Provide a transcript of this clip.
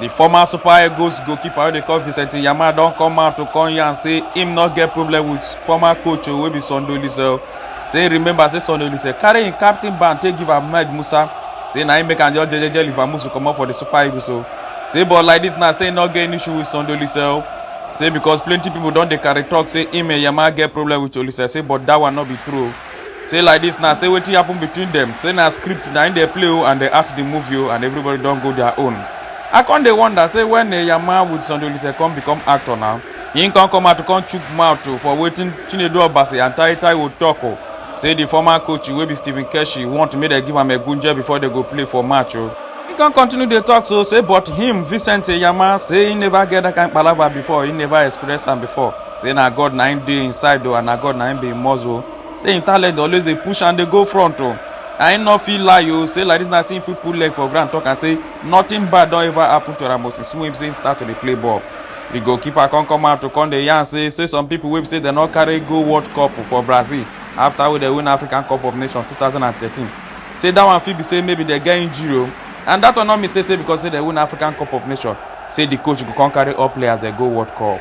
di former super eagles goalkeeper wey dey call vincent yama don come out to come yarn say im no get problem with former coach wey be sunday olise say remember say sunday olise carry im captain band take give ahmed musa say na im make am just jejeje leave amusu comot for di super eagles o say but like dis now say im no get any issue with sunday olise o say because plenty pipo don dey carry tok say im and yama get problem with olise say but dat one no be true o. say like this now say wetin happen between them say na script na im dey play o and dey act the movie o and everybody don go their own i come dey wonder say when eyama with sunday olise come become actor now him come come out to come chook mouth o for wetin chinedu obasi and tai taiwo talk o say the former coach wey be stephen keshi want make dem give am egunje before dem go play for match o he come continue dey talk so say but him vincent eyama say he never get that kind palava before he never experience am before say na god na him dey inside o and na god na him be him muscle say him talent dey always dey push and dey go front o and him no fit lie o say like this na say him fit put leg for ground talk am say nothing bad don ever happen to am o since wey be say him start to dey play ball the goalkeeper come come out to come dey yarn say say some people wey be say dem no carry go world cup for brazil after wey dem win african cup of nations 2013 say that one fit be say maybe dem get injury o and that one no mean say say because say dem win african cup of nations say the coach go come carry all players dem go world cup.